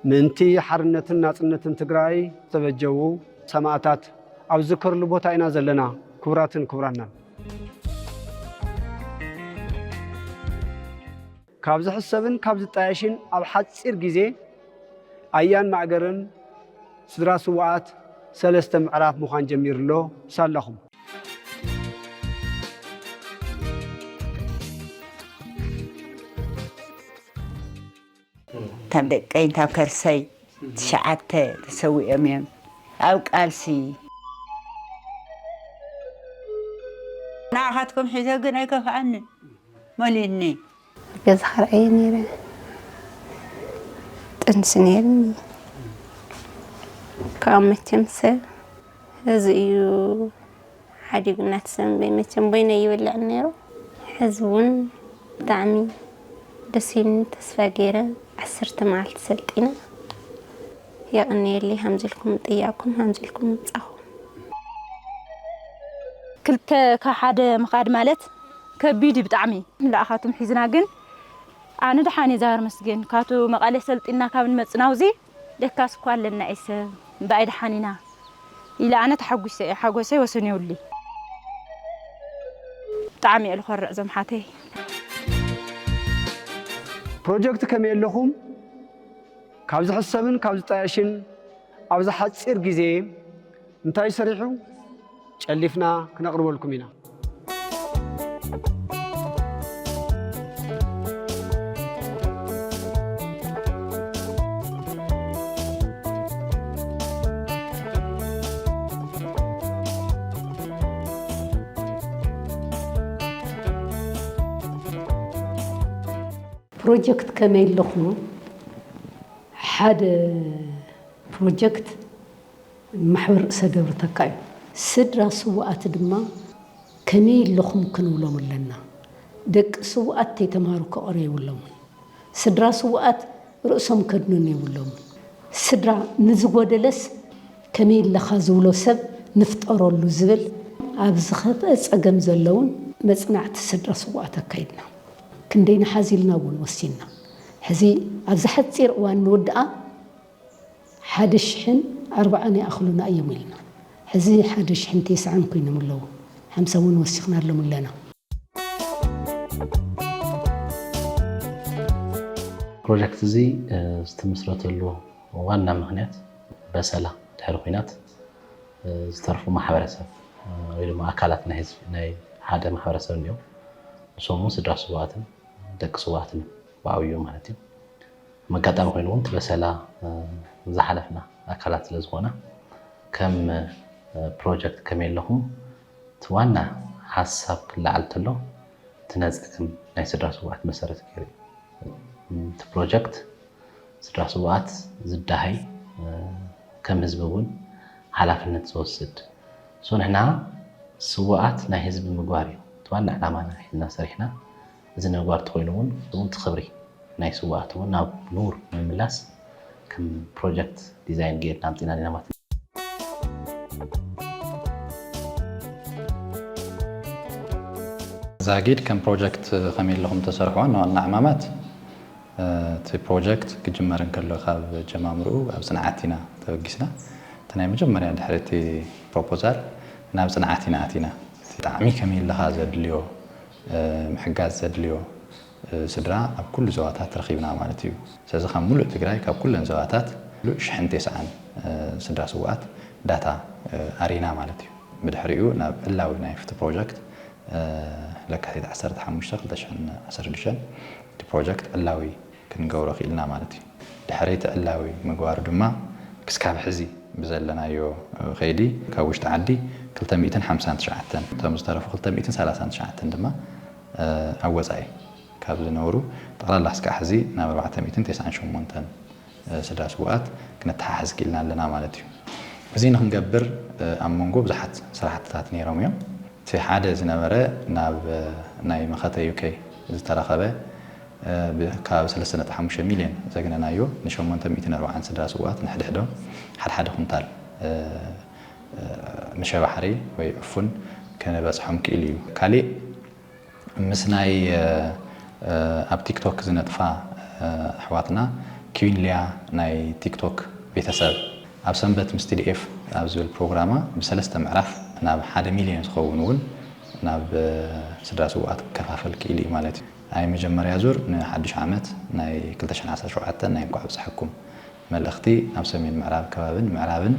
ምእንቲ ሓርነትን ናጽነትን ትግራይ ዝተበጀዉ ሰማእታት ኣብ ዝዝከርሉ ቦታ ኢና ዘለና። ክቡራትን ክቡራናን! ካብ ዝሕሰብን ካብ ዝጣየሽን ኣብ ሓጺር ግዜ ኣያን ማእገርን ስድራ ስዉኣት ሰለስተ ምዕራፍ ምዃን ጀሚሩ'ሎ። ሳላኹም! እቶም ደቀይን ካብ ከርሰይ ትሽዓተ ተሰዊኦም እዮም ኣብ ቃልሲ። ንዓኻትኩም ሒዘ ግን ኣይከፍኣንን። መሊኡኒ። ገዛኻ ርኣየ ነይረ ጥንሲ ነይሩኒ ካብ መቸም ሰብ እዚ እዩ ሓዲጉና ትሰምበይ መቸም ቦይነ ይብልዕ ነይሩ ሕዚ እውን ብጣዕሚ ደስ ኢሉኒ ተስፋ ገይረ ዓሰርተ መዓልቲ ሰልጢነ የቕንየለይ ሃምዚ ኢልኩም ጥያቕኩም ሃምዚ ኢልኩም ምብጻኹም ክልተ ካብ ሓደ ምኻድ ማለት ከቢድ እዩ ብጣዕሚ ላኣኻቱም ሒዝና ግን ኣነ ደሓን እየ ዛግር መስገን ካቱ መቀሌ ሰልጢና ካብ ንመፅና ኣውዚ ደካስ እኳ ኣለና እየ ሰብ እምበኣይ ደሓን ኢና ኢለ ኣነ ተሓጒሰ እየ ሓጎሰይ ወሰን የውሊ ብጣዕሚ እየ ልኾርዕ ዞም ሓተይ ፕሮጀክት ከመይ ኣለኹም ካብ ዝሕሰብን ካብ ዝጣየሽን ኣብዚ ሓፂር ግዜ እንታይ ሰሪሑ? ጨሊፍና ክነቕርበልኩም ኢና። ፕሮጀክት ከመይ ኣለኹም ሓደ ፕሮጀክት ማሕበር ርእሰ ደብሪ ተካ እዩ። ስድራ ስውኣት ድማ ከመይ ኣለኹም ክንብሎም ኣለና። ደቂ ስውኣት ተይተማህሩ ከቕርዩ የብሎምን። ስድራ ስውኣት ርእሶም ከድንኑ የብሎምን። ስድራ ንዝጎደለስ ከመይ ኣለኻ ዝብሎ ሰብ ንፍጠረሉ ዝብል ኣብ ዝኸፍኣ ጸገም ዘለውን መጽናዕቲ ስድራ ስውኣት ኣካይድና። ክንደይ ንሓዝ ኢልና እውን ወሲንና። ሕዚ ኣብዚ ሓጺር እዋን ንውድኣ። ሓደ ሽሕን ኣርባዓን ይኣኽሉና እዮም ኢልና ሕዚ ሓደ ሽሕን ቴስዓን ኮይኖም ኣለዉ ሓምሳ ውን ወሲኽናሎም ኣለና። ፕሮጀክት እዚ ዝትምስረተሉ ዋና ምኽንያት በሰላ ድሕሪ ኹናት ዝተርፉ ማሕበረሰብ ወይ ድማ ኣካላት ናይ ህዝቢ ናይ ሓደ ማሕበረሰብ እንኦም ንሶም ውን ስድራ ስውኣትን ደቂ ስውኣትን ብዓብይኡ ማለት እዩ። ከም ኣጋጣሚ ኮይኑ እውን በሰላ ዝሓለፍና ኣካላት ስለ ዝኾና ከም ፕሮጀክት ከመየለኹም እቲ ዋና ሓሳብ ክለዓል ተሎ እቲ ነፀግም ናይ ስድራ ስውኣት መሰረት ገይሩ እዩ እቲ ፕሮጀክት ስድራ ስውኣት ዝዳሃይ ከም ህዝቢ እውን ሓላፍነት ዝወስድ ሶ ንሕና ስውኣት ናይ ህዝቢ ምግባር እዩ እቲ ዋና ዕላማና ሒዝና ሰሪሕና እዚ ነባር ተኾይኑ እውን እቲ ኽብሪ ናይ ስውኣት እውን ናብ ኑር ንምምላስ ከም ፕሮጀክት ዲዛይን ገይርና ኣምፂእና ዲና ማለት እዩ። ዛጊድ ከም ፕሮጀክት ከመይ ኢልኹም እተሰርሕዎ ዋና ዋና ዕማማት እቲ ፕሮጀክት ክጅመር እንከሎ ካብ ጀማምርኡ ኣብ ፅንዓት ኢና ተበጊስና። እቲ ናይ መጀመርያ ድሕሪ እቲ ፕሮፖዛል ናብ ፅንዓት ኢና ኣቲና። እቲ ጣዕሚ ከመይ ኢልኻ ዘድልዮ ምሕጋዝ ዘድልዮ ስድራ ኣብ ኩሉ ዞባታት ረኺብና ማለት እዩ። ስለዚ ካብ ሙሉእ ትግራይ ካብ ኩለን ዞባታት ሙሉእ ሽሕን ቴስዓን ስድራ ስውኣት ዳታ ኣሪና ማለት እዩ። ብድሕሪኡ ናብ ዕላዊ ናይ ፍትህ ፕሮጀክት ለካቲት ዓሰርተ ሓሙሽተ ክልተ ሽሕን ዓሰርተ ሽዱሽተን እቲ ፕሮጀክት ዕላዊ። ክንገብሮ ክኢልና ማለት እዩ። ድሕሪ እቲ ዕላዊ ምግባሩ ድማ ክስካብ ሕዚ ብዘለናዮ ከይዲ ካብ ውሽጢ ዓዲ ክልተ ሚእትን ሓምሳን ትሽዓተን እቶም ዝተረፉ ክልተ ሚእትን ሰላሳን ትሽዓተን ድማ ኣብ ወፃኢ ካብ ዝነብሩ ጠቕላላ ክስካዕ ሕዚ ናብ ኣርባዕተ ሚእትን ቴስዓን ሸሞንተን ስድራ ስውኣት ክነተሓሕዝ ክኢልና ኣለና ማለት እዩ። እዚ ንክንገብር ኣብ መንጎ ብዙሓት ስራሕትታት ነይሮም እዮም። እቲ ሓደ ዝነበረ ናብ ናይ መኸተ ዩኬ ዝተረኸበ፣ ካብ ሰለስተ ነጥቢ ሓሙሽተ ሚልዮን ዘግነናዮ ንሸሞንተ ሚእትን ኣርብዓን ስድራ ስውኣት ንሕድሕዶም ሓድሓደ ኩንታል መሸባ ሓርኢ ወይ ዕፉን ከነበጽሖም ክኢሉ እዩ። ካሊእ ምስ ናይ ኣብ ቲክቶክ ዝነጥፋ ኣሕዋትና ኪዊን ሊያ ናይ ቲክቶክ ቤተሰብ ኣብ ሰንበት ምስ TDF ኣብ ዝብል ፕሮግራማ ብሰለስተ ምዕራፍ ናብ ሓደ ሚልዮን ዝኸውን እውን ናብ ስድራ ስውኣት ክከፋፈል ክኢሉ እዩ ማለት እዩ። ናይ መጀመርያ ዙር ንሓዱሽ ዓመት ናይ ክልተ ሽሕን ዓሰርተ ሸውዓተን ናይ እንኳዕ ኣብፀሐኩም መልእኽቲ ናብ ሰሜን ምዕራብ ከባብን ምዕራብን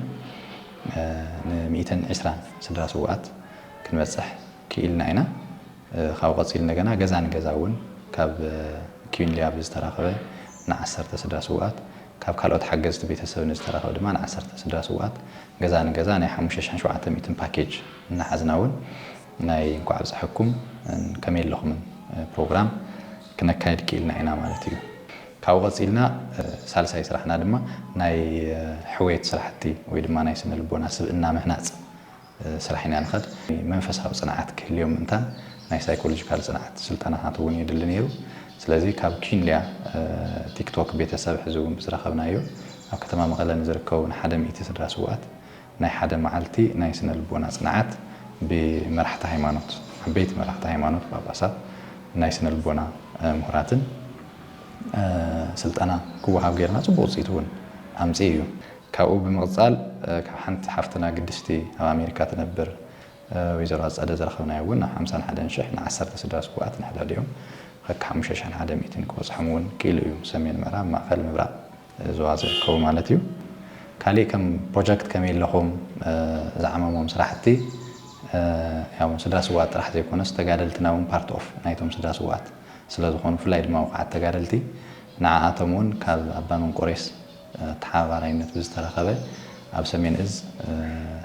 ን ሚእትን ዕስራን ስድራ ስውኣት ክንበፅሕ ክኢልና ኢና። ካብኡ ቀፂሉ እንደገና ገዛ ንገዛ እውን ካብ ኪዩን ሊያ ብዝተረኸበ ን ዓሰርተ ስድራ ስውኣት ካብ ካልኦት ሓገዝቲ ቤተሰብ ንዝተረኸበ ድማ ን ዓሰርተ ስድራ ስውኣት ገዛ ንገዛ ናይ ሓሙሽተ ሽሕን ሸውዓተ ሚእትን ፓኬጅ እናሓዝና እውን ናይ እንኳዕ ኣብፀሐኩም ን ከመይ ኣለኹምን ፕሮግራም ክነካይድ ክኢልና ኢና ማለት እዩ። ካብኡ ቀፂልና ሳልሳይ ስራሕና ድማ ናይ ሕውየት ስራሕቲ ወይ ድማ ናይ ስነ ልቦና ስብእና ምህናፅ ስራሕ ኢና ንኸድ። መንፈሳዊ ፅንዓት ክህልዮም ምእንታን ናይ ሳይኮሎጂካል ፅንዓት ስልጠናታት እውን የድሊ ነይሩ። ስለዚ ካብ ኪንሊያ ቲክቶክ ቤተሰብ ሕዚ እውን ብዝረኸብናዮ ኣብ ከተማ መቐለ ንዝርከቡ ንሓደ ሚእቲ ስድራ ስውኣት ናይ ሓደ መዓልቲ ናይ ስነ ልቦና ጽንዓት ብመራሕቲ ሃይማኖት፣ ዓበይቲ መራሕቲ ሃይማኖት፣ ጳጳሳት፣ ናይ ስነ ልቦና ምሁራትን ስልጠና ክወሃብ ጌርና ጽቡቕ ውጽኢት እውን ኣምጺኡ እዩ። ካብኡ ብምቕጻል ካብ ሓንቲ ሓፍትና ግድስቲ ኣብ ኣሜሪካ ትነብር ወይዘሮ ኣጸደ ዝረኸብናዮ እውን ናብ ሓምሳን ሓደን ሽሕ ንዓሰርተ ስድራ ስዉኣት ንሕድሕዲኦም ኸከ ሓሙሽተ ሽሕን ሓደ ሚእቲን ክበጽሖም እውን ክኢሉ እዩ። ሰሜን ምዕራብ፣ ማእኸል፣ ምብራቕ፣ ዞባ ዝርከቡ ማለት እዩ። ካሊእ ከም ፕሮጀክት ከመይ ኣለኹም ዝዓመሞም ስራሕቲ ያው ስድራ ስውኣት ጥራሕ ዘይኮነስ ተጋደልትና እውን ፓርት ኦፍ ናይቶም ስድራ ስውኣት ስለዝኾኑ ብፍላይ ድማ ውቁዓት ተጋደልቲ ንዓኣቶም እውን ካብ ኣባ መንቆሬስ ኣተሓባባራይነት ብዝተረኸበ ኣብ ሰሜን እዝ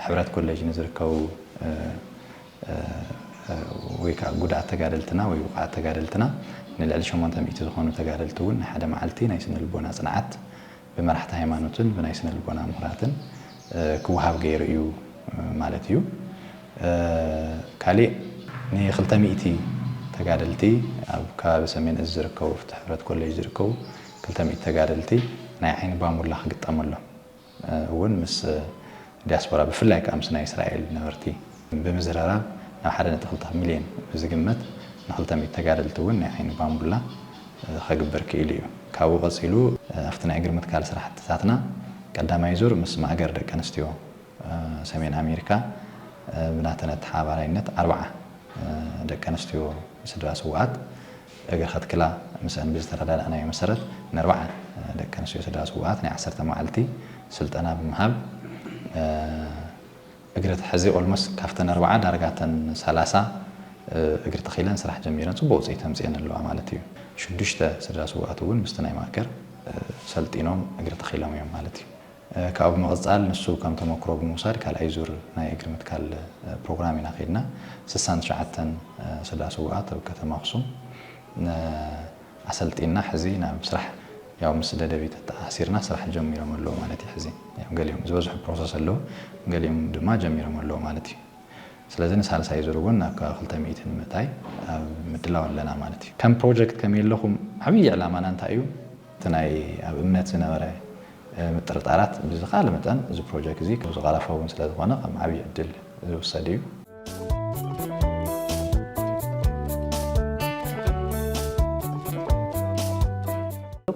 ሕብረት ኮሌጅ ንዝርከቡ ወይ ከኣ ጉድኣት ተጋደልትና ወይ ውቕዓት ተጋደልትና ንልዕሊ ሸሞንተ ሚእቲ ዝኾኑ ተጋደልቲ እውን ናይ ሓደ መዓልቲ ናይ ስነ-ልቦና ጽንዓት ብመራሕቲ ሃይማኖትን ብናይ ስነ-ልቦና ምሁራትን ክወሃብ ገይሩ እዩ ማለት እዩ። ካሊእ ንክልተ ሚእቲ ተጋደልቲ ኣብ ከባቢ ሰሜን እዝ ዝርከቡ ኣብቲ ሕብረት ኮሌጅ ዝርከቡ ክልተ ሚእቲ ተጋደልቲ ናይ ዓይኒ ባሙላ ክግጠመሎም፣ እውን ምስ ዲያስፖራ ብፍላይ ከኣ ምስ ናይ እስራኤል ነበርቲ ብምዝርራብ ናብ ሓደ ነጥቢ ክልተ ሚልዮን ብዝግመት ንክልተ ሚእቲ ተጋደልቲ እውን ናይ ዓይኒ ባንቡላ ከግብር ክኢሉ እዩ። ካብኡ ቀጺሉ ኣብቲ ናይ እግሪ ምትካል ስራሕትታትና ቀዳማይ ዙር ምስ ማእገር ደቂ ኣንስትዮ ሰሜን ኣሜሪካ ብናተን ኣተሓባባራይነት ኣርብዓ ደቂ ኣንስትዮ ስድራ ስውኣት እግሪ ከትክላ ምስኣን ብዝተረዳዳእናዮ መሰረት ንኣርብዓ ደቂ ኣንስትዮ ስድራ ስውኣት ናይ ዓሰርተ መዓልቲ ስልጠና ብምሃብ እግሪ ተሐዚ ኦልሞስት ካብተን ኣርብዓ ዳርጋ እተን ሰላሳ እግሪ ተኺለን ስራሕ ጀሚረን ፅቡቕ ውፅኢት ኣምፂኤን ኣለዋ ማለት እዩ። ሽዱሽተ ስድራ ስውኣት እውን ምስቲ ናይ ማእከር ሰልጢኖም እግሪ ተኺሎም እዮም ማለት እዩ። ካብኡ ብምቕፃል ንሱ ከም ተሞክሮ ብምውሳድ ካልኣይ ዙር ናይ እግሪ ምትካል ፕሮግራም ኢና ከይድና። ስሳን ትሽዓተን ስድራ ስውኣት ኣብ ከተማ ኣኽሱም ኣሰልጢንና ሕዚ ናብ ስራሕ ያው ምስ ደደቢት ተኣኣሲርና ስራሕ ጀሚሮም ኣለዉ ማለት እዩ። ሕዚ ያው ገሊኦም ዝበዝሑ ፕሮሰስ ኣለዉ ገሊኦም ድማ ጀሚሮም ኣለዉ ማለት እዩ። ስለዚ ንሳልሳይ ዙር እውን ናብ ከባቢ ክልተ ሚእቲ ንምእታይ ኣብ ምድላው ኣለና ማለት እዩ። ከም ፕሮጀክት ከመይ ኣለኹም? ዓብዪ ዕላማና እንታይ እዩ? እቲ ናይ ኣብ እምነት ዝነበረ ምጥርጣራት ብዝከኣለ መጠን እዚ ፕሮጀክ እዚ ዝቐረፈ እውን ስለዝኾነ ከም ዓብዪ ዕድል ዝውሰድ እዩ።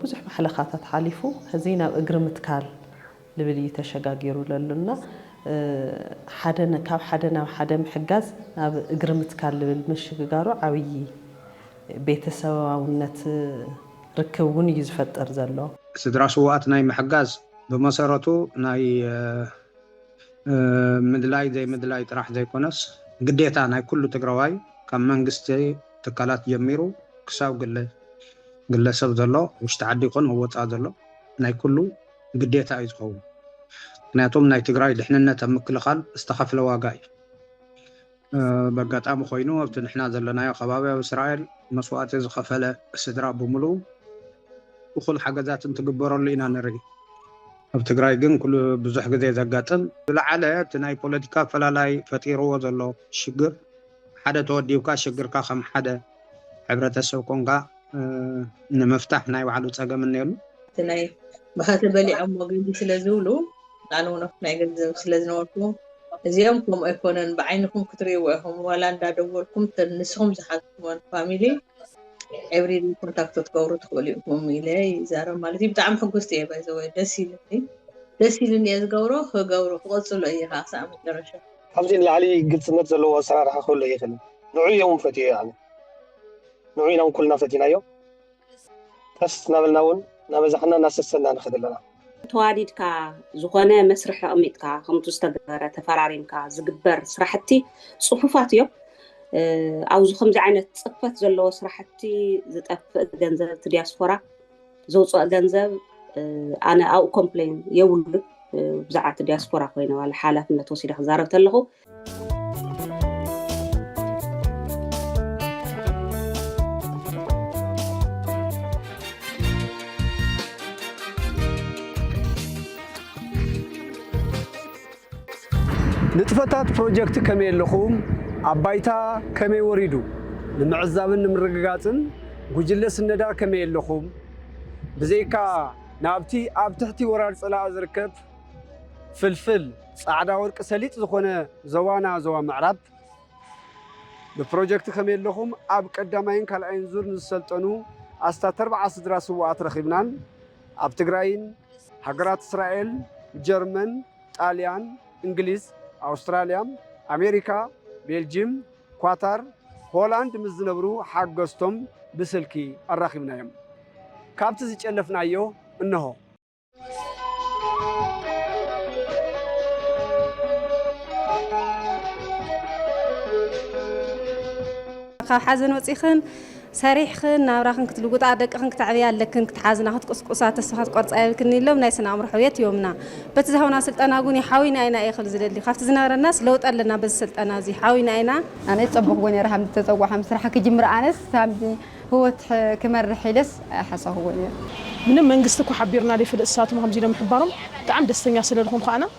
ብዙሕ ማሕለኻታት ሓሊፉ ሕዚ ናብ እግሪ ምትካል፣ ልብል እዩ ተሸጋጊሩ ለሎ እና ሓደ ካብ ሓደ ናብ ሓደ ምሕጋዝ ናብ እግሪ ምትካል ልብል ምሽግጋሩ ዓብዪ ቤተሰባውነት ርክብ እውን እዩ ዝፈጥር ዘሎ። ስድራ ስውኣት ናይ ምሕጋዝ ብመሰረቱ ናይ ምድላይ ዘይምድላይ ጥራሕ ዘይኮነስ ግዴታ ናይ ኩሉ ትግራዋይ ካብ መንግስቲ ትካላት ጀሚሩ ክሳብ ግለ ግለሰብ ዘሎ ውሽጢ ዓዲ ይኹን ኣብ ወፃኢ ዘሎ ናይ ኩሉ ግዴታ እዩ ዝኸውን ምክንያቱም ናይ ትግራይ ድሕንነት ኣብ ምክልኻል ዝተኸፍለ ዋጋ እዩ። በጋጣሚ ኮይኑ ኣብቲ ንሕና ዘለናዮ ከባቢ ኣብ እስራኤል መስዋእቲ ዝኸፈለ ስድራ ብምሉ እኹል ሓገዛት እንትግበረሉ ኢና ንርኢ። ኣብ ትግራይ ግን ኩሉ ብዙሕ ግዜ ዘጋጥም ዝለዓለ እቲ ናይ ፖለቲካ ኣፈላላይ ፈጢርዎ ዘሎ ሽግር ሓደ ተወዲብካ ሽግርካ ከም ሓደ ሕብረተሰብ ኮንካ ንምፍታሕ ናይ ባዕሉ ፀገም እኔሉ። እቲ ናይ ብኸተ በሊዖሞ ገንዲ ስለ ዝብሉ ኣነ ውን ኣብቲ ናይ ገንዘብ ስለ ዝነበርኩ እዚኦም ከምኡ ኣይኮነን ብዓይንኹም ክትሪእዎ ኢኹም ዋላ እንዳ ደወልኩም እተን ንስኹም ዝሓዝኩመን ፋሚሊ ዕብሪሊ ኮንታክቶ ትገብሩ ትኽእሉ ኢኹም ኢለ ይዛረብ ማለት እዩ ብጣዕሚ ሕጉስቲ እየ ባይዘወይ ደስ ኢሉኒ ደስ ኢሉኒ እየ ዝገብሮ ክገብሮ ክቕጽሎ እየ ከዓ ክሳብ መጨረሻ ካብዚ ንላዕሊ ግልጽነት ዘለዎ ኣሰራርሓ ክህሉ ኣይኽእልን። ንዑኡ እየ እውን ፈትየዮ ኣነ። ንዑኡ ኢና እውን ኩልና ፈቲናዮ። ቀስ እናበልና እውን እናበዛሕና እናሰሰንና ንኸድ ኣለና። ተዋዲድካ ዝኾነ መስርሕ ኣቕሚጥካ ከምቱ ዝተገበረ ተፈራሪምካ ዝግበር ስራሕቲ ጽፉፋት እዮም። ኣብዚ ከምዚ ዓይነት ጽፈት ዘለዎ ስራሕቲ ዝጠፍእ ገንዘብ እቲ ዲያስፖራ ዘውፅኦ ገንዘብ ኣነ ኣብኡ ኮምፕሌን የብሉ ብዛዕባ እቲ ዲያስፖራ ኮይነ ዋላ ሓላፍነት ወሲደ ክዛረብ ተለኹ ንጥፈታት ፕሮጀክት ከመይ ኣለኹም ኣብ ባይታ ከመይ ወሪዱ ንምዕዛብን ንምርግጋፅን ጉጅለ ስነዳ ከመይ ኣለኹም ብዘይካ ናብቲ ኣብ ትሕቲ ወራር ፀላኢ ዝርከብ ፍልፍል ፃዕዳ ወርቂ ሰሊጥ ዝኾነ ዞባና ዞባ ምዕራብ ብፕሮጀክት ከመይ ኣለኹም ኣብ ቀዳማይን ካልኣይን ዙር ንዝሰልጠኑ ኣስታት ኣርባዓ ስድራ ስውኣት ረኺብናን ኣብ ትግራይን ሃገራት እስራኤል፣ ጀርመን፣ ጣልያን፣ እንግሊዝ፣ ኣውስትራልያ፣ ኣሜሪካ፣ ቤልጂም፣ ኳታር፣ ሆላንድ ምስ ዝነብሩ ሓገዝቶም ብስልኪ ኣራኺብናዮም። ካብቲ ዝጨለፍናዮ እነሆ። ካብ ሓዘን ወፂኽን ሰሪሕኽን ናብራኽን ክትልውጣ፣ ደቅኽን ክተዕብያ ኣለክን፣ ክትሓዝና፣ ክትቁስቁሳ፣ ተስፋ ክትቆርጻ የብልክን ኢሎም ናይ ስነ ኣእምሮ ሕውየት ሂቦምና። በቲ ዝሃቡና ስልጠና ውን እዩ ሓውዩና ኢና እየ ክብል ዝደሊ። ካብቲ ዝነበረናስ ለውጢ ኣለና በዚ ስልጠና እዚ። ሓውዩና ኢና። ኣነስ ጸቡክዎ ነይረ ከምዚ ተጸዋዕ ከምዚ ስራሕ ክጅምር ኣነስ ከምዚ ህወት ክመርሕ ኢለስ ኣይሓሰብክዎን ነይረ። ምንም መንግስቲ እኳ ሓቢርና ዘይፈልጥ ንሳቶም ከምዚ ኢሎም ምሕባሮም ብጣዕሚ ደስተኛ ስለ ልኾንኩ ኣነ።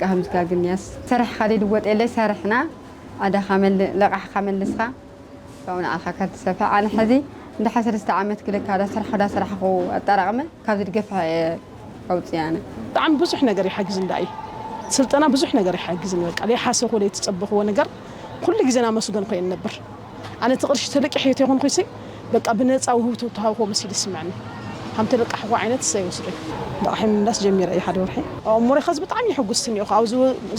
ጋህምዝጋ ግን ያስ ሰርሕ ኻሊድ ወጥ የለይ ሰርሕና ኣዳኻ መልእ ለቓሕኻ መልስኻ ካብኡ ንዓኻ ካልትሰፍሕ ኣነ ሕዚ እንድሓ ሰለስተ ዓመት ክልካ ዳሰርሖ ዳሰራሕኹ ኣጠራቕመ ካብዚ ድገፍሐ እየ ኣውፅእ ኣነ። ብጣዕሚ ብዙሕ ነገር ይሓግዝ እንዳ እዪ ስልጠና ብዙሕ ነገር ይሓግዝኒ በቃ ለይሓሰብክዎ ለይተፀበክዎ ነገር ኩሉ ግዜ ናመስገንኩ እየ እነብር። ኣነ እቲ ቅርሺ ተለቂሑ እተይኮንኩሲ በቃ ብነፃ ውህብቶ እተሃብክዎ መሲሉ ይስመዐኒ ሃም ተለቃሕክዎ ዓይነት እሰይ ወስደይ። ልቓሐይ ምምላስ ጀሚረ እየ ሓደ ወርሒ። ዋው እሞረይ ከዚ ብጣዕሚ እየ ሕጉስቲ እኒኦኹ ኣብዚ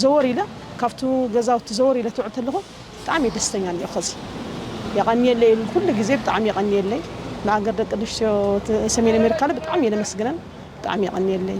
ዘወር ኢለ ካብቱ ገዛውቲ ዘወር ኢለ ትውዕል ተለኹ ብጣዕሚ እየ ደስተኛ እኒኦኹ ከዚ የቐንየለይ እብል ኩሉ ግዜ ብጣዕሚ የቐንየለይ ንኣገር ደቂ ኣንስትዮ ሰሜን ኣሜሪካ ብጣዕሚ እየ ለመስግነን ብጣዕሚ የቐንየለይ።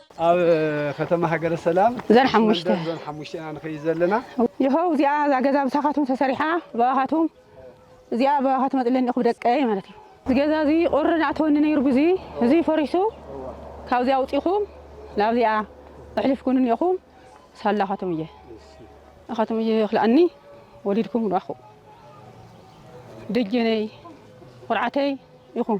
ኣብ ከተማ ሃገረ ሰላም ዞን ኣብቲ ሓሙሽተ። መንደር ዞን ሓሙሽተ ኢና ንኸይድ ዘለና። ይኸው እዚኣ እዛ ገዛ ብሳኻትኩም ተሰሪሓ ብኣኻትኩም እዚኣ ብኣኻትኩም ኣፅለኒ እኹ ብደቀይ ማለት እዩ። እዚ ገዛ እዚ ቁሪ ንኣተወኒ ነይሩ ብዙ እዚ ፈሪሱ ካብዚ ኣውፂኹም ናብዚኣ እሕልፍ ኩኑኒ ኢኹም ሳላ ኣኻትኩም እየ ኣኻትኩም እየ ክልኣኒ ወሊድኩም ንኣኹ ደጀነይ ኩርዓተይ ኢኹም።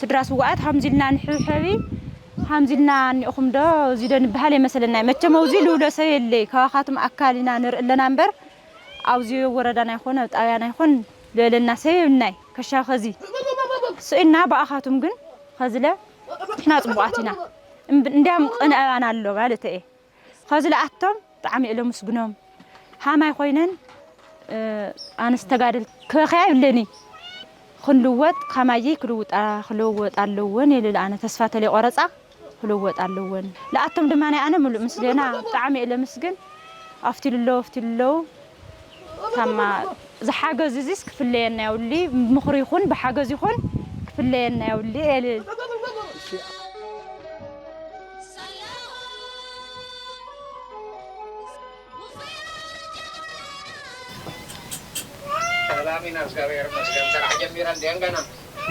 ስድራ ስዋኣት ሃምዚ ኢልና ንሕብሐቢ ሃምዚ ኢልና እኒኦኹም ዶ እዚ ዶ ንበሃል የመሰለናይ መቸም ኣውዚ ልብሎ ሰብ የለይ ካባኻትም ኣካል ኢና ንርኢ ኣለና እምበር ኣብዚ ወረዳና ይኹን ኣብ ጣብያና ይኹን ልበለና ሰብ የብልናይ ከሻ ከዚ ስኢንና ብኣኻቱም ግን ኸዝለ ንሕና ጽቡቓት ኢና እንድያም ቕንዕ ኣባና ኣሎ ማለት እየ ኸዝለ ኣቶም ብጣዕሚ እለ ምስግኖም ሃማይ ኮይነን ኣነስ ተጋደል ክበኸያ ይብለኒ ክንልወጥ ካማየይ ክልውጣ ክለወጥ ኣለወን የልል ኣነ ተስፋ ተለይ ቆረጻ ክልወጥ ኣለወን ልኣቶም ድማ ናይ ኣነ ምሉእ ምስገና ብጣዕሚ እለ ምስግን ኣፍቲ ልለው ኣፍቲ ልለው ታማ ዝሓገዙ እዚስ ክፍለየና የውሊ ምኽሪ ይኹን ብሓገዝ ይኹን ክፍለየና የውሊ እለ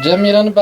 ጀሚረን ባ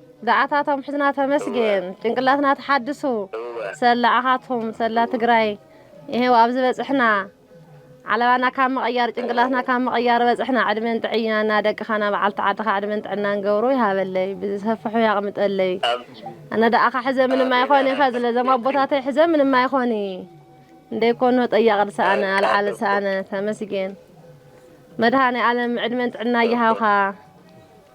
ዝኣታቶም ሕዝና ተመስገን ጭንቅላትና ተሓድሱ እወ ሰላ ኣኻትኩም ሰላ ትግራይ ይሄው ኣብዚ በፅሕና ዓለባና ካብ ምቕያር ጭንቅላትና ካብ ምቕያር በፅሕና ዕድመን ጥዕናና ደቅኻና በዓልቲ ዓድኻ ዕድመን ጥዕናን ገብሩ ይሃበለይ ብዝሰፍሑ ያቕምጠለይ ኣሜን ኣነ ደኣኻ ሕዘ ምንም ኣይኾኒ ከ ዝለዘም ኣቦታተይ ሕዘ ምንም ኣይኾኒ እንደይ ኮኖ ጠያቕ ድሰኣነ ኣልዓል ሰኣነ ተመስገን መድሃኔ ኣለም ዕድመን ጥዕና ይሃብኻ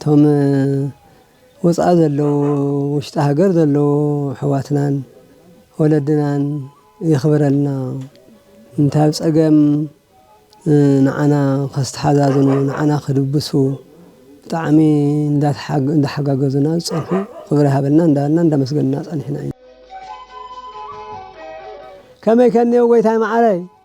እቶም ወፃኢ ዘለዉ ውሽጢ ሃገር ዘለዉ ኣሕዋትናን ወለድናን የኽብረልና እንታይ ኣብ ፀገም ንዓና ከስተሓዛዝኑ ንዓና ክድብሱ ብጣዕሚ እንዳሓጋገዙና ዝፀንሑ ክብሪ ሃበልና እንዳበልና እንዳመስገንና ፀኒሕና ኢና ከመይ ከኒዮ ጎይታይ መዓረይ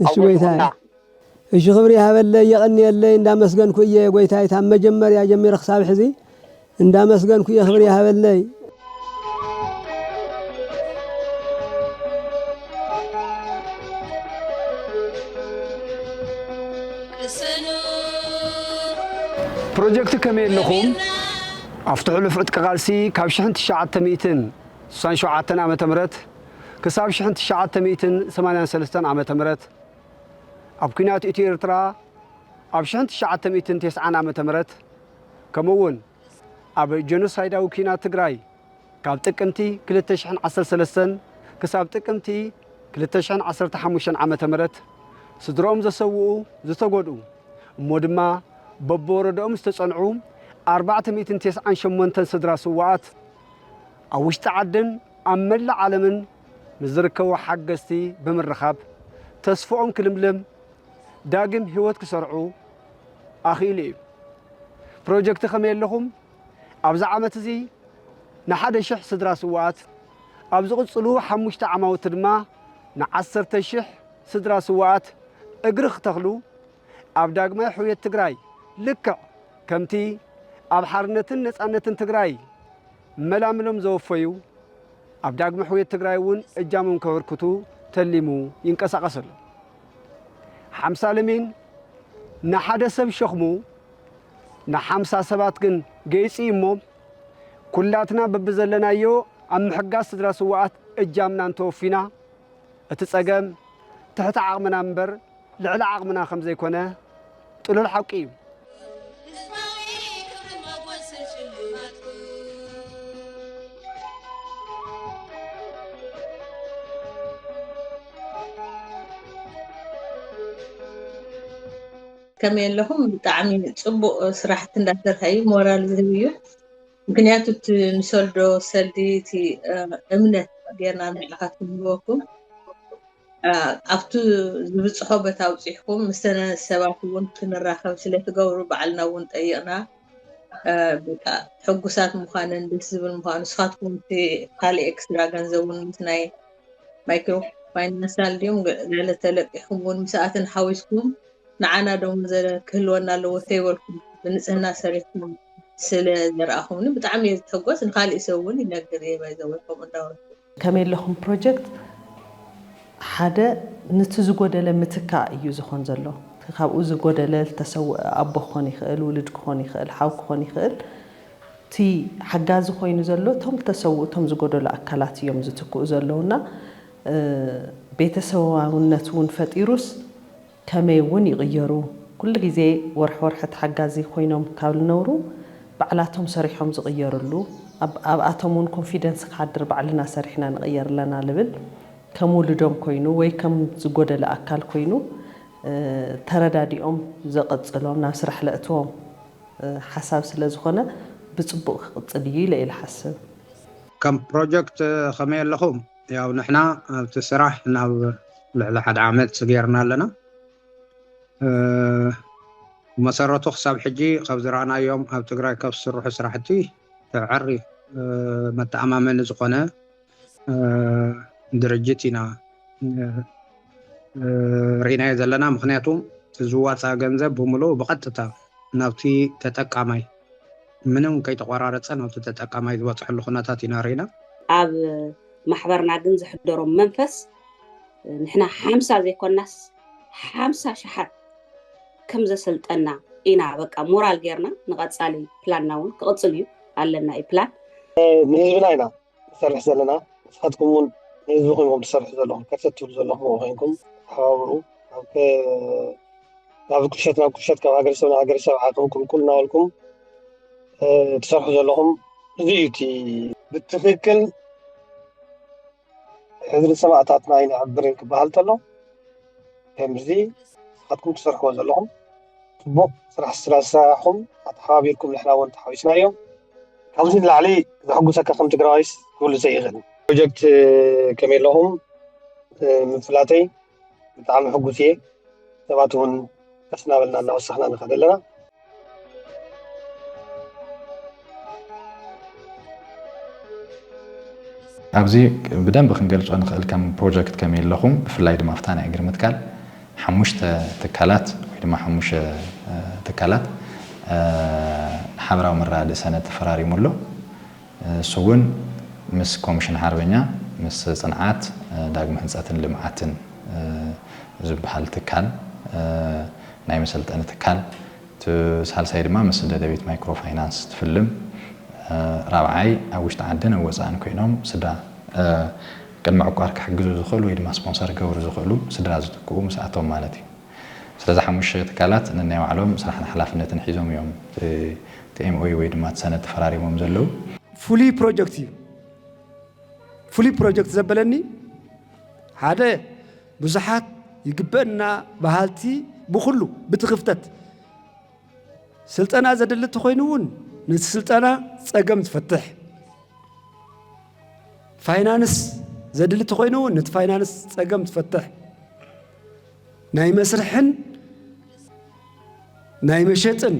እሺ ጎይታይ እሺ ክብሪ ይሃበለይ የቐንየለይ እንዳመስገንኩ እየ ጎይታይ ካብ መጀመርያ ጀሚረ ክሳብ ሕዚ እንዳመስገንኩ እየ ክብሪ ይሃበለይ ፕሮጀክት ከመይ ኣለኹም ኣብቲ ሕሉፍ ዕጥቂ ቃልሲ ካብ 1967 ዓ ም ክሳብ ሽሕን ትሽዓተ ሚእትን ሰማንያን ሰለስተን ዓመተ ምህረት ኣብ ኩናት ኢትዮ ኤርትራ ኣብ ሽሕን ትሽዓተ ሚእትን ቴስዓን ዓመተ ምህረት ከምኡ ውን ኣብ ጀኖሳይዳዊ ኩናት ትግራይ ካብ ጥቅምቲ ክልተ ሽሕን ዓሰርተ ሰለስተን ክሳብ ጥቅምቲ ክልተ ሽሕን ዓሰርተ ሓሙሽተን ዓመተ ምህረት ስድርኦም ዘሰውኡ ዝተጎድኡ እሞ ድማ በብወረደኦም ዝተጸንዑ ኣርባዕተ ሚእትን ቴስዓን ሸሞንተን ስድራ ስዋኣት ኣብ ውሽጢ ዓድን ኣብ መላእ ዓለምን ምስ ዝርከቡ ሓገዝቲ ብምርኻብ ተስፍኦም ክልምልም ዳግም ህይወት ክሰርዑ ኣኽኢሉ እዩ። ፕሮጀክቲ ከመይ ኣለኹም ኣብዚ ዓመት እዚ ንሓደ ሽሕ ስድራ ስዉኣት ኣብ ዝቕፅሉ ሓሙሽተ ዓማውቲ ድማ ንዓሰርተ ሽሕ ስድራ ስዉኣት እግሪ ክተኽሉ ኣብ ዳግማይ ሕውየት ትግራይ ልክዕ ከምቲ ኣብ ሓርነትን ነፃነትን ትግራይ መላምሎም ዘወፈዩ ኣብ ዳግመ ሕውየት ትግራይ እውን እጃሞም ከበርክቱ ተሊሙ ይንቀሳቐስ ኣሎ። ሓምሳ ለሚን ንሓደ ሰብ ሸኽሙ ንሓምሳ ሰባት ግን ገይፂ እዩ እሞ ኩላትና በብዘለናዮ ኣብ ምሕጋዝ ስድራ ስውኣት እጃምና እንተወፊና እቲ ፀገም ትሕቲ ዓቕምና እምበር ልዕሊ ዓቕምና ከም ዘይኮነ ጥሉል ሓቂ እዩ። ከመይ ኣለኹም ብጣዕሚ ፅቡቅ ስራሕቲ እንዳሰርሐ እዩ ሞራል ዝህብ እዩ ምክንያቱ እቲ ንሰልዶ ሰልዲ እቲ እምነት ጌርና ንዓኻትኩም ንህበኩም ኣብቲ ዝብጽሖ ቦታ ኣብጺሕኩም ምስተን ሰባት እውን ክንራኸብ ስለትገብሩ ባዕልና እውን ጠይቕና በቃ ሕጉሳት ምዃንን ደስ ዝብል ምዃኑ ንስኻትኩም እቲ ካልእ ኤክስትራ ገንዘብ እውን ምስ ናይ ማይክሮ ፋይናንሳል ድዮም ገለ ተለቂኹም እውን ምስኣትን ሓዊስኩም ንዓና ደሞ ክህልወና ኣለዎ ተይበልኩም ብንፅህና ሰሪሕኩም ስለ ዘረኣኹምኒ ብጣዕሚ እየ ዝሕጎስ ንካሊእ ሰብ እውን ይነግር እየ ባይዘወይ ከምኡ እንዳበልኩ ከመይ ኣለኹም ፕሮጀክት ሓደ ንቲ ዝጎደለ ምትካእ እዩ ዝኾን ዘሎ። እቲ ካብኡ ዝጎደለ ዝተሰወኣ ኣቦ ክኾን ይኽእል፣ ውሉድ ክኾን ይኽእል፣ ሓው ክኾን ይኽእል። እቲ ሓጋዚ ኮይኑ ዘሎ እቶም ዝተሰውኡ እቶም ዝጎደሉ ኣካላት እዮም ዝትክኡ ዘለዉ እና ቤተሰባውነት እውን ፈጢሩስ፣ ከመይ እውን ይቕየሩ ኩሉ ግዜ ወርሒ ወርሒ ተሓጋዚ ኮይኖም ካብ ልነብሩ ባዕላቶም ሰሪሖም ዝቕየርሉ ኣብ ኣብኣቶም እውን ኮንፊደንስ ክሓድር ባዕልና ሰሪሕና ንቕየር ኣለና ልብል ከም ውሉዶም ኮይኑ ወይ ከም ዝጎደለ ኣካል ኮይኑ ተረዳዲኦም ዘቐጽሎም ናብ ስራሕ ለእትዎም ሓሳብ ስለ ዝኾነ ብጽቡቕ ክቕጽል እዩ ኢለ እየ ልሓስብ። ከም ፕሮጀክት ከመይ ኣለኹም? ያው ንሕና ኣብቲ ስራሕ ናብ ልዕሊ ሓደ ዓመት ሰጊርና ኣለና ብመሰረቱ ክሳብ ሕጂ ካብ ዝረኣናዮም ኣብ ትግራይ ካብ ዝስርሑ ስራሕቲ ተዕሪ መተኣማመኒ ዝኾነ ድርጅት ኢና ርኢናዮ ዘለና ምክንያቱ ዝዋፃእ ገንዘብ ብምሉኡ ብቐጥታ ናብቲ ተጠቃማይ ምንም ከይተቖራረፀ ናብቲ ተጠቃማይ ዝበፅሐሉ ኩነታት ኢና ሪኢና። ኣብ ማሕበርና ግን ዘሕደሮም መንፈስ ንሕና ሓምሳ ዘይኮናስ ሓምሳ ሸሓት ከም ዘሰልጠና ኢና በቃ ሞራል ጌርና ንቐፃሊ ፕላንና እውን ክቕፅል እዩ ኣለና እዩ ፕላን ንህዝብና ኢና ንሰርሕ ዘለና ንስካትኩም እውን ንህዝብኩም ኢኩም ትሰርሑ ዘለኩም ከርተት ትብሉ ዘለኩም ኮይንኩም ተሓባብሩ ካብ ቁሸት ናብ ቁሸት ካብ ሃገረሰብ ናብ ሃገረሰብ ዓቅሚ ቁልቁል እናበልኩም ትሰርሑ ዘለኹም እዚ እዩ እቲ ብትክክል ሕድሪ ሰማእታትና ኣይነዕብርን ክበሃል ከሎ ከምዚ ንስካትኩም ትሰርሕዎ ዘለኹም ጽቡቅ ስራሕ ስለ ዝሰራሕኩም ኣተሓባቢርኩም ንሕና ውን ተሓዊስናዮ ካብዚ ንላዕሊ ዘሕጉሰካ ከም ትግራዋይስ ክህሉ ዘይክእል ፕሮጀክት ከመይ ኣለኹም ምፍላተይ ብጣዕሚ ሕጉስ እየ ሰባት ውን ቀስ እናበልና እናወሰኽና ንኸድ ኣለና። ኣብዚ ብደንቢ ክንገልጾ ንኽእል ከም ፕሮጀክት ከመይ ኣለኹም ብፍላይ ድማ ኣብታ ናይ እግሪ ምትካል ሓሙሽተ ትካላት ወይ ድማ ሓሙሽተ ትካላት ሓበራዊ መረዳድእ ሰነድ ተፈራሪሙ ኣሎ እሱ እውን ምስ ኮሚሽን ሓርበኛ ምስ ጽንዓት ዳግመ ህንጸትን ልምዓትን ዝበሃል ትካል ናይ መሰልጠኒ ትካል እቲ ሳልሳይ ድማ ምስ ደደቢት ማይክሮ ፋይናንስ ትፍልም። ራብዓይ ኣብ ውሽጢ ዓድን ኣብ ወፃእን ኮይኖም ስድራ ቅድመ ዕቋር ክሕግዙ ዝኽእሉ ወይ ድማ ስፖንሰር ክገብሩ ዝኽእሉ ስድራ ዝትክኡ ምስ ኣቶም ማለት እዩ። ስለዚ ሓሙሽተ ትካላት ነናይ ባዕሎም ስራሕን ሓላፍነትን ሒዞም እዮም እቲ MOU ወይ ድማ እቲ ሰነድ ተፈራሪሞም ዘለው። ፍሉይ ፕሮጀክት እዩ። ፍሉይ ፕሮጀክት ዘበለኒ ሓደ ብዙሓት ይግበእና በሃልቲ ብኹሉ ብቲ ክፍተት ስልጠና ዘድሊ ተኾይኑ እውን ነቲ ስልጠና ጸገም ዝፈትሕ ፋይናንስ ዘድሊ ተኾይኑ እውን ነቲ ፋይናንስ ጸገም ዝፈትሕ ናይ መስርሕን ናይ መሸጥን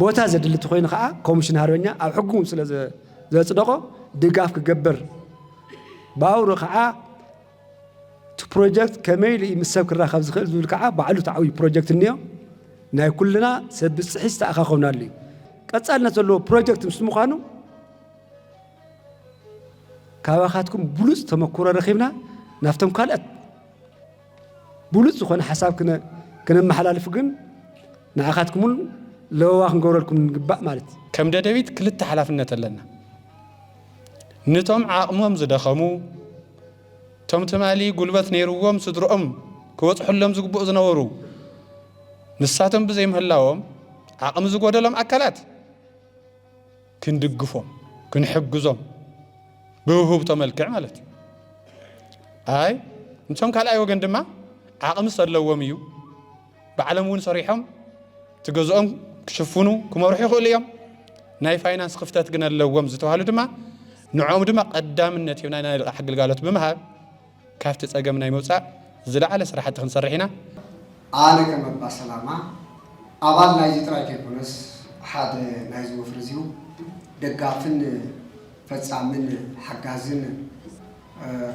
ቦታ ዘድሊ ተኾይኑ ከዓ ኮሚሽን ሃርበኛ ኣብ ሕጉ ስለ ዘጽደቖ ድጋፍ ክገብር ባውሩ ከዓ እቲ ፕሮጀክት ከመይ ኢሉ እዩ ምስ ሰብ ክራኸብ ዝኽእል ዝብል ከዓ ባዕሉ እቲ ዓብዪ ፕሮጀክት እኒኦ ናይ ኩልና ሰብ ብፅሒት ዝተኣኻኸብናሉ እዩ። ቀፃልነት ዘለዎ ፕሮጀክት ምስ ምዃኑ ካባኻትኩም ብሉፅ ተመክሮ ረኺብና ናብቶም ካልኦት ብሉፅ ዝኾነ ሓሳብ ክነመሓላልፍ ግን ንዓኻትኩም እውን ለበዋ ክንገብረልኩም ንግባእ ማለት እዩ ከም ደደቢት ክልተ ሓላፍነት ኣለና ንቶም ዓቕሞም ዝደኸሙ እቶም ትማሊ ጉልበት ነይርዎም ስድርኦም ክበፅሑሎም ዝግብኡ ዝነበሩ ንሳቶም ብዘይምህላዎም ዓቕሚ ዝጎደሎም ኣካላት ክንድግፎም ክንሕግዞም ብውህብቶ መልክዕ ማለት እዩ። ኣይ እቶም ካልኣይ ወገን ድማ ዓቕሚ ሰለዎም እዩ ባዕሎም እውን ሰሪሖም እቲ ገዝኦም ክሽፍኑ ክመርሑ ይኽእሉ እዮም ናይ ፋይናንስ ክፍተት ግን ኣለዎም ዝተባሃሉ ድማ ንዕኦም ድማ ቀዳምነት ሂብና ናይ ልቓሕ ግልጋሎት ብምሃብ ካብቲ ፀገም ናይ ምውፃእ ዝለዓለ ስራሕቲ ክንሰርሕ ኢና። ኣነ ከም ኣባ ሰላማ ኣባል ናይዚ ጥራይ ከይኮነስ ሓደ ናይዚ ወፍሪ እዚው ደጋፍን ፈፃምን ሓጋዝን፣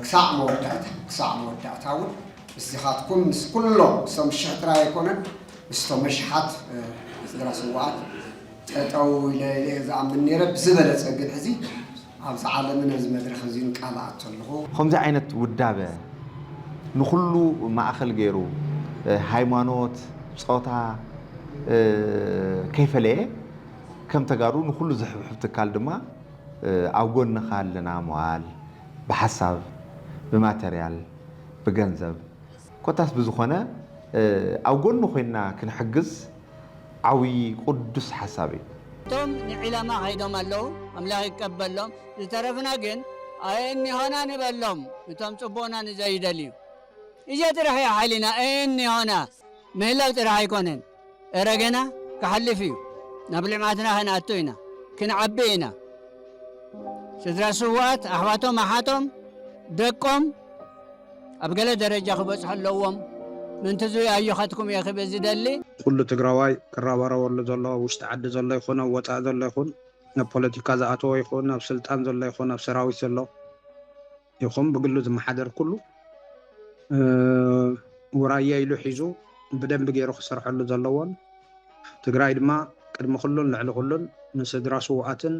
ክሳዕ መወዳእታ ክሳዕ መወዳእታ እውን ምስዚኻትኩም ምስ ኩሎም እሶም ሽሕ ጥራይ ኣይኮነን ምስቶም ኣሽሓት ስድራ ስዋኣት ጠጠው ኢለ ኢለ ዝኣምን ነይረ ብዝበለፀ ግን ሕዚ ኣብዚ ዓለምን ኣብዚ መድረኽ እዚን ቃል ኣቶ ኣለኹ። ኸምዚ ዓይነት ውዳበ ንኹሉ ማእኸል ገይሩ ሃይማኖት፣ ፆታ ከይፈለየ ከም ተጋሩ ንኹሉ ዝሕብሕብ ትካል ድማ ኣብ ጎንኻ ኣለና ምባል ብሓሳብ ብማተርያል ብገንዘብ ኮታስ ብዝኾነ ኣብ ጎኑ ኮይንና ክንሕግዝ ዓብይ ቁዱስ ሓሳብ እዩ። እቶም ንዒለማ ከይዶም ኣለዉ ኣምላክ ይቀበሎም ዝተረፍና ግን ኣየእኒሆና ንበሎም እቶም ጽቡቅና ንዘይደልዩ እዚኣ ጥራሕ እያ ሓይልና ኣየእኒሆና ምህላው ጥራሕ ኣይኮነን። እረ ገና ክሓልፍ እዩ ናብ ልምዓትና ክንኣቱ ኢና ክንዓቢ ኢና ስድራ ስውኣት ኣሕዋቶም ኣሓቶም ደቆም ኣብ ገለ ደረጃ ክበፅሑ ኣለዎም ምንቲ ዝይ ኣዮኻትኩም እየ ክብል ዝደሊ። ኩሉ ትግራዋይ ክረባረበሉ ዘለዎ ውሽጢ ዓዲ ዘሎ ይኹን ኣብ ወፃኢ ዘሎ ይኹን ኣብ ፖለቲካ ዝኣተወ ይኹን ኣብ ስልጣን ዘሎ ይኹን ኣብ ሰራዊት ዘሎ፣ ይኹን ብግሉ ዝመሓደር ኩሉ ውራየ ኢሉ ሒዙ ብደንቢ ገይሩ ክሰርሐሉ ዘለዎን ትግራይ ድማ ቅድሚ ኩሉን ልዕሊ ኩሉን ንስድራ ስውኣትን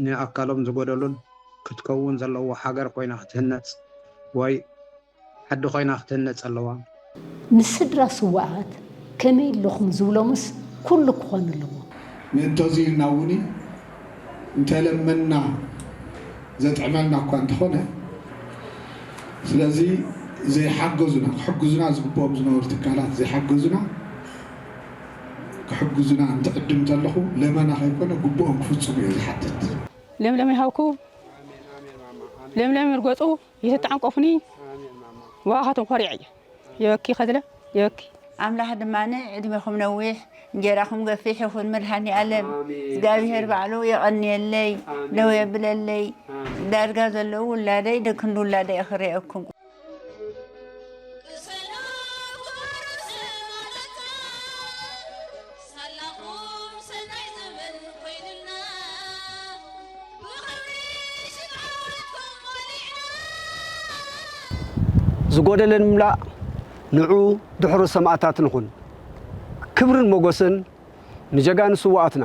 ንኣካሎም ዝጎደሉን ክትከውን ዘለዎ ሃገር ኮይና ክትህነፅ ወይ ዓዲ ኮይና ክትህነፅ ኣለዋ። ንስድራ ስዉኣት ከመይ ኣለኹም ዝብሎምስ ኩሉ ክኾን ኣለዎ። ንእንተዙይ ኢልና እውን እንተለመንና ዘጥዕመልና እኳ እንተኾነ ስለዙይ ዘይሓገዙና ክሕግዙና ዝግብኦም ዝነበሩ ትካላት ዘይሓገዙና ክሕግዙና እንትዕድም እንተለኹ ለመና ከይኮነ ግቡኦም ክፍፅሙ እየ ዝሓትት። ለምለም ይሃብኩ ለምለም ይርገፁ። ይትጣንቆፉኒ ብኣኻትኩም ኮሪዐ እየ የበኪ ከዝለ የበኪ። ኣምላኽ ድማ ዕድሜኹም ነዊሕ እንጌራኹም ገፊሕ ይኹን መድሃኒኣለም እግዚኣብሄር ባዕሉ የቐንየለይ ደው የብለለይ ዳርጋ ዘለዉ ውላደይ ደክንዲ ውላደይ ክርእየኩም ሳላኹም ሰናይ ዘመን ኮይኑልና ብኽብሪ ሽም ዓወትኩም ሞሊዕና ዝጎደለ ንምላእ ንዑ ድሑር ሰማእታት ንኹን። ክብርን ሞጎስን ንጀጋኑ ስውኣትና።